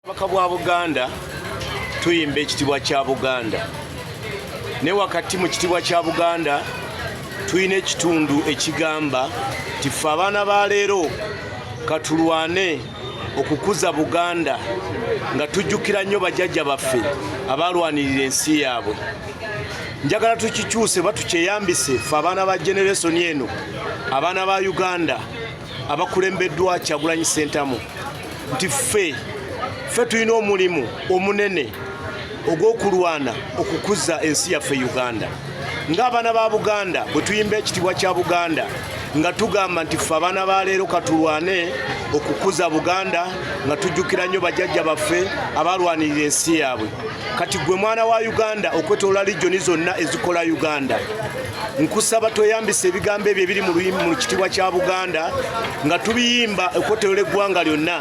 bubaka bwa buganda tuyimba ekitibwa kya buganda ne wakati mu kitibwa kya buganda tulina ekitundu ekigamba nti ffe abaana ba leero katulwane okukuza buganda nga tujjukira nnyo bajajja baffe abaalwanirira ensi yaabwe njagala tukikyuse batukyeyambise fe abaana ba generesoni eno abaana ba uganda abakulembeddwa Kyagulanyi Ssentamu nti ffe ffe tulina omulimu omunene ogw'okulwana okukuza ensi yaffe Uganda ng'abaana ba Buganda bwe tuyimba ekitibwa kya Buganda nga tugamba nti ffe abaana ba leero katulwane okukuza Buganda nga tujjukira nnyo bajajja baffe abalwanirira ensi yaabwe kati gwe mwana wa Uganda okwetolola lijoni zonna ezikola Uganda nkusaba tweyambisa ebigambo ebyo ebiri mu luyimba mu kitibwa kya buganda nga tubiyimba ekotero ly'eggwanga lyonna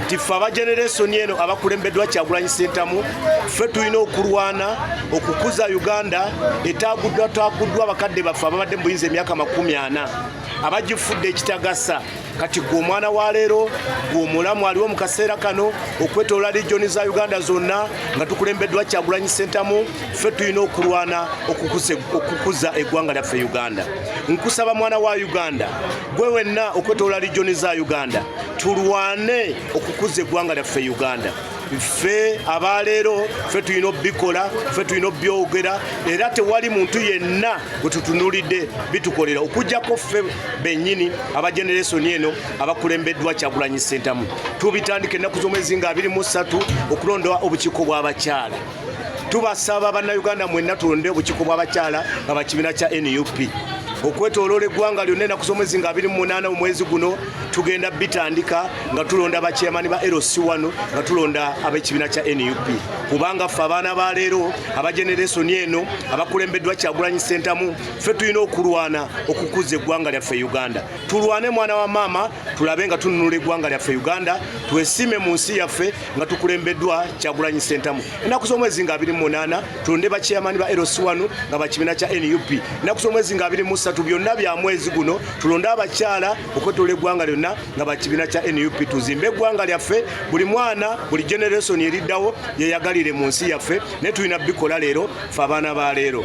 nti ffe abageneresoni eno abakulembeddwa kyagulanyi sentamu ffe tulina okulwana okukuza uganda etaaguddwa taaguddwa abakadde baffe ababadde mu buyinza emyaka makumi ana abagifudde ekitagasa kati gwe omwana wa leero gwe omulamu aliwo mu kaseera kano okwetoola lijoni za uganda zonna nga tukulembeddwa kyagulanyi sentamu ffe tulina okulwana okukuza eggwanga lyaffe uganda nkusaba mwana wa uganda gwe wenna okwetoola lijoni za uganda tulwane okukuza eggwanga lyaffe uganda ffe abaleero ffe tulina obikola ffe tulina obyogera era tewali muntu yenna gwetutunulidde bitukolera okujjako ffe benyini aba generesoni eno abakulembeddwa kyagulanyi sentamu tubitandika ennaku z'omwezi nga 23 okulonda obukiiko bw'abakyala tubasaba bannayuganda mwenna tulonde obukiiko bw'abakyala nga bakibiina kya nup okwetoloola eggwanga lyonna enaku z'omwezi nga 28 mu mwezi guno tugenda bitandika nga tulonda bakyamani ba lc wano nga tulonda ab'ekibiina kya nup kubanga ffe abaana ba leero abageneresoni eno abakulembeddwa kyagulanyi sentamu ffe tulina okulwana okukuza eggwanga lyaffe uganda tulwane mwana wa maama tulabe nga tununula eggwanga lyaffe uganda twesiime mu nsi yaffe nga tukulembeddwa kyagulanyi sentamu enaku z'omwezi nga 28 tulonde bakyeyamani ba eros 1 nga bakibiina kya nup enaku z'omwezi nga 23 byonna bya mwezi guno tulonde abakyala okwetolola eggwanga lyonna nga bakibiina kya nup tuzimbe eggwanga lyaffe buli mwana buli generation eriddawo yeyagalire mu nsi yaffe naye tulina bikola leero fe abaana ba leero